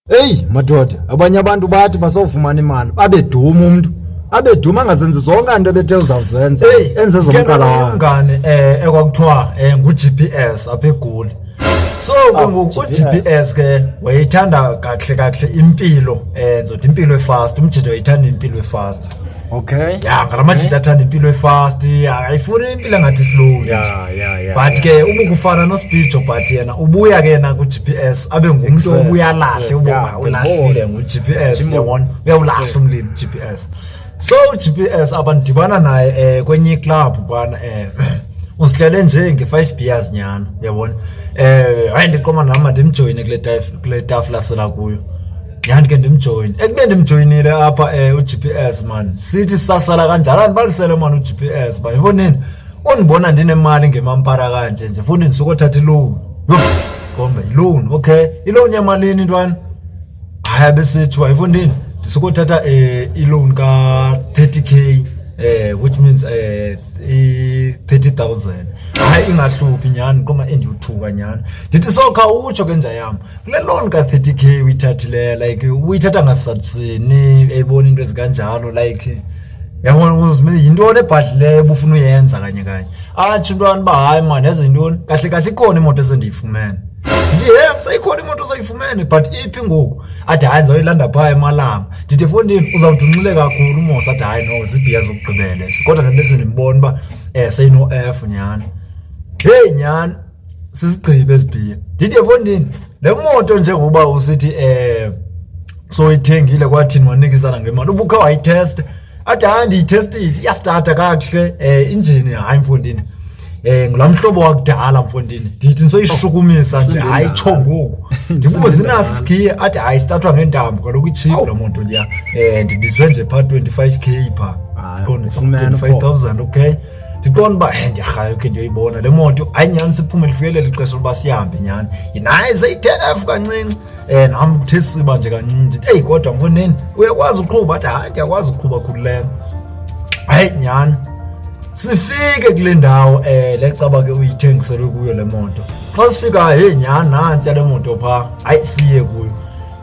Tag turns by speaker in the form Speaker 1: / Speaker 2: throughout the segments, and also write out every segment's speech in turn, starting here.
Speaker 1: Eyi madoda, abanye abantu bathi bazofumana imali babe duma umntu abe duma angazenzi zonke into ebethe uzawuzenza Hey, enze zomqala wakhe umngane eh
Speaker 2: ekwakuthiwa eh ngu-GPS apha egoli so ke Ah, ngoku GPS. u-GPS ke wayethanda kakuhle kakuhle impilo eh ndizothi impilo efast umjita wayethanda impilo efast Okay. Ya
Speaker 1: ngala majita
Speaker 2: athanda impilo efast, ayifuni impilo engathi isilungu. Ya ya ya. But
Speaker 1: ke ubukufana
Speaker 2: noSpijo but yena ubuya ke na ku GPS abe ngumuntu obuya lahle ubonga ulahlile ngu GPS. Jimon. Uyawulahle umlimi GPS. So GPS abandibana naye eh kwenye club bana eh usihlele nje nge-five beers nyhana yabona um eh, hayi ndiqoma nam mandimjoyine kule tafula sela kuyo Yandike ndimjoyine. Ekube ndimjoyinile apha eh uGPS man. Sithi sasala kanjalo andibalisele man uGPS ba. Yiboneni. Undibona ndinemali ngemampara kanje nje futhi ndisuka othatha iloan. Yho. Kombe iloan. Okay. Iloan yamalini ntwana? Haya besithi wayifundini. Ndisuka othatha eh iloan ka 30k eh which means eh i 30000 hayi ingahluphi nyani koma endiyuthuka nyani ndithi sokha utsho ke nja yam kule loan ka-thirty k uyithathileyo like uyithatha ngasatsini eyibona into ezikanjalo like yabona yintoni ebhadlileyo ubufuna uyenza kanye kanye atsho intwana uba hayi mani eze yintoni kahle kahle ikhona imoto esendiyifumene ndiye seyikhona imoto soyifumene but iphi ngoku athi hayi ndizawuyilanda phaa emalanga ndithi efondini uzawuthi unxile kakhulu umosa athi hayi no zibhiya zokugqibele kodwa ndandise ndimbona uba um eh, seyino-f nyhani heyi nyhani sisigqibe ezibhiya ndithi efondini le moto njengoba usithi um soyithengile kwathini wanikisana ngemali ubukhe wayithesta athi hayi ndiyithestile iyasithatha kakuhle um eh, injini hayi mfondini eh ngula mhlobo wakudala mfondini ndithi nisoyishukumisa nje hayi tsho ngoku ndibubo zinaso isikhiye athi hayi sithathwa ngentambo kaloku itshiphu laa moto liya um ndibizwe nje phaa twenty-five k phaa qonda twenty-five thousand okay ndiqonda uba eh, ndiyarhayo khe ndiyoyibona le moto hayi nyhani siphume lifikelela ixesha lokuba sihambe nyhani naye seyithenf kancinci um nam kuthe siba nje kancinci ndithi eyi kodwa mfondini uyakwazi uqhuba athi hayi ndiyakwazi uqhuba khululeko hayi nyhani sifike kule ndawo um le caba ke uyithengiselwe kuyo le moto xa sifikayo heyi nyhani nantsiya le moto phaa hayi siye kuyo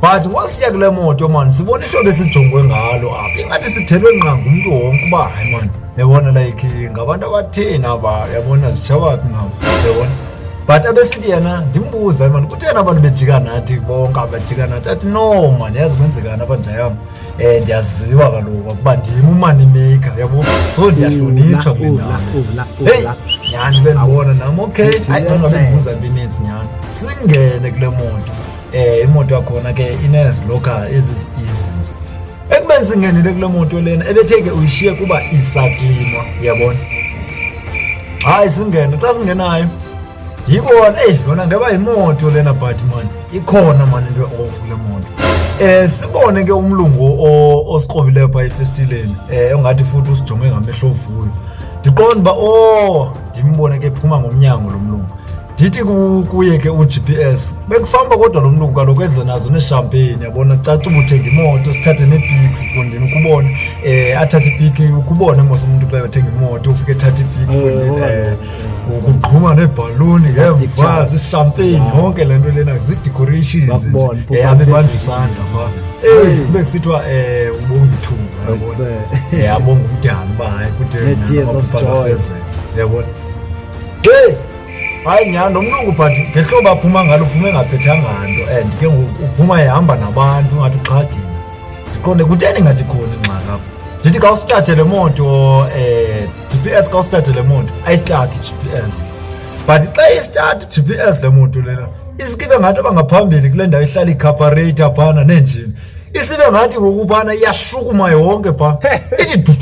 Speaker 2: but wasiya kule moto mani sibona ihlobo esijongwe ngalo apha ingathi sithelwe ngqa ngumntu wonke uba hayi mani yabona like ngabantu abatheni aba yabona zitshawaphi ngabo yabona but abesithi yena ndimbuza mani kutheni abantu bejika nathi bonke abajika nathi athi no mani yazi kwenzekani abanjayam um eh, ndiyaziwa kaloku ukuba ndim umani maker yabo so ndiyahlonitshwa kwenaheyi nyhani bendibona nam okay ayi angabe ndibuza mbi ininzi nyhani singene kule moto eh imoto yakhona ke inezilokhara ezi izinje ekubeni singenele kule moto lena ebetheke uyishiye kuba isaklinwa uyabona hayi singene xa singenayo yibona eyi yona ngeba yimoto lena but mani ikhona mani into eofu kule moto um sibone ke umlungu osiqobileyo phaa efestileni um ongathi futhi usijonge ngamehlo ovuyo ndiqonda uba o oh, ndimbone ke phuma ngomnyango lo mlungu ndithi kuye ke u-gps bekufamba kodwa lo mlungu kaloku eze nazo neeshampeyini yabona caca uba uthenga imoto sithathe neepiki mfondini ukubona um athathe ipiki ukubona mos umntu xa yothenga imoto ufike ethathe ipiki mfondini um eh, ukuqhuma neebhaluni ngemva zishampeyini yonke le nto lena zii-decorations abe bandla isandla pha eyi kube kusithiwa um eh, ubongithunga yabona abongumdala uba hayi kude yabona hayi nyhani lo mlungu but ngehlobo aphuma ngalo uphume engaphethanga nto and ke ngoku uphuma ehamba nabantu ungathi uxhagile ndiqonde kutheni ngathi khona ingxaki apho ndithi ka usithathe le moto um eh, g p s ka usithathe le moto ayisithathu g p s but xa isithathu g p s le moto lena isikibe ngathi abangaphambili kule ndawo ihlala ikhaparator phana neenjini isibe ngathi ngokubana iyashukuma yonke pha ithi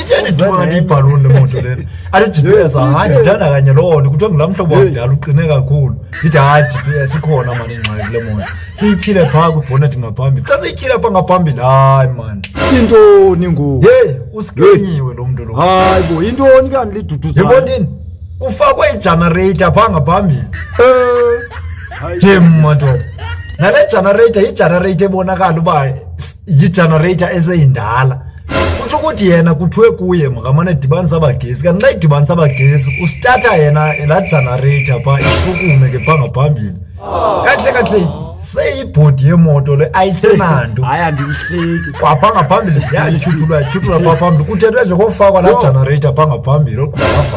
Speaker 2: itheni dukanti ibhaluni lemoto lena athi gps hayi ndithanda kanye loo nto kuthiwa ngulaa mhlobo wakudala uqine kakhulu ndithi hayi gps ikhona mani ingxaki le moto siyityhile phaa kwibhonethi ngaphambili xa siyityhile phaa ngaphambili hayi mani intoni
Speaker 1: ngoku yeyi usikenyiwe
Speaker 2: lo mntu lo hayi bo intoni
Speaker 1: kanti liduduza yebo ndini
Speaker 2: kufakwe ijanareyitha phaa ngaphambili um eh. yem madoda nale generator yigenerator ebonakala uba yigenerator eseyindala kutsho ukuthi yena kuthiwe kuye makamane edibanisa abagesi kanti xa idibanisa abagesi usithatha yena laa generator phaa ishukume ke phaa ngaphambili kakuhle kakuhle seyibhodi yemoto le ayisenanto hayi andiyihleki
Speaker 1: kwapha ngaphambili
Speaker 2: yatyhutulwa yatyhutulwa phaa phambili kuthethwe nje kofakwa laa generator phaa ngaphambili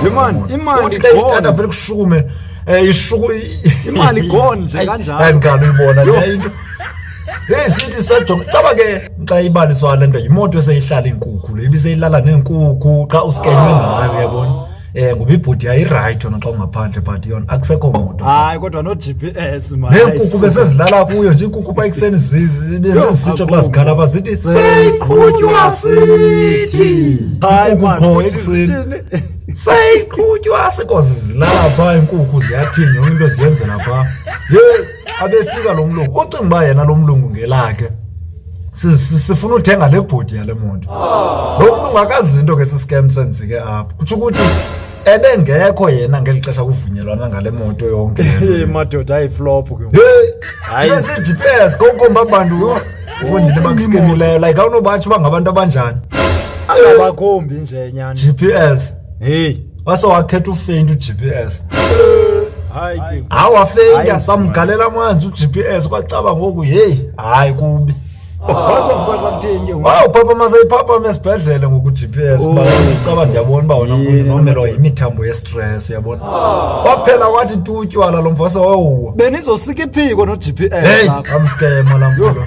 Speaker 2: Yemani,
Speaker 1: imali, uthi xa isithatha
Speaker 2: vele kushukume Eh ishuku
Speaker 1: imali gone nje kanjalo. Hayi ngalo ibona le
Speaker 2: into. Hey sithi sajonga caba ke xa ibaliswa le nto yimoto eseyihlala iinkukhu le ibiseyilala neenkukhu xa uskenywe ngayo yabona. Eh ngoba ibhodi yayirayithi yona xa ungaphandle but yona akusekho moto. Hayi kodwa no
Speaker 1: GPS manje. Neenkukhu besezilala
Speaker 2: kuyo nje iinkukhu pha ekuseni zi- bezizitsho xa zikhala pha zithi seyiqhutywa sithi. Hayi Iinkukhu man,
Speaker 1: qho ekuseni.
Speaker 2: sayiqhutywa sikoze zilala phaa iinkukhu ziyathini yonke into ziyenzela phaa ye abefika lo mlungu ucinga uba yena lo mlungu ngelakhe Si- si- sifuna uthenga le bhodi yale moto lo mlungu akazinto ke sisikem senzeke apha kutsho ukuthi ebengekho yena ngeli xesha kuvunyelwana ngale moto yonke le nto. madoda
Speaker 1: ayiflophu ke ngoku. Hey, Hayi. yenza
Speaker 2: i-GPS kokomba abantu Ufundile bakuskimileyo like awunobatsho uba ngabantu abanjani. Angabakhombi
Speaker 1: nje nyana. GPS. Hey. Wase wakhetha
Speaker 2: ufeint uGPS.
Speaker 1: Hayi ke. Hawu wafeint
Speaker 2: samgalela amanzi uGPS kwacaba ngoku hey hayi kubi. Wazovuka
Speaker 1: kwakuthini ke. Wawu papa masayiphapha
Speaker 2: esibhedlele ngoku GPS ba oh. ucaba ndiyabona uba wona umuntu nomelwa yimithambo yes. stress uyabona kwaphela wathi tu utywala lo mfasa wawuwa benizosika
Speaker 1: iphiko
Speaker 2: no-gps Hey,
Speaker 1: apha.
Speaker 2: amskema la
Speaker 1: mfana.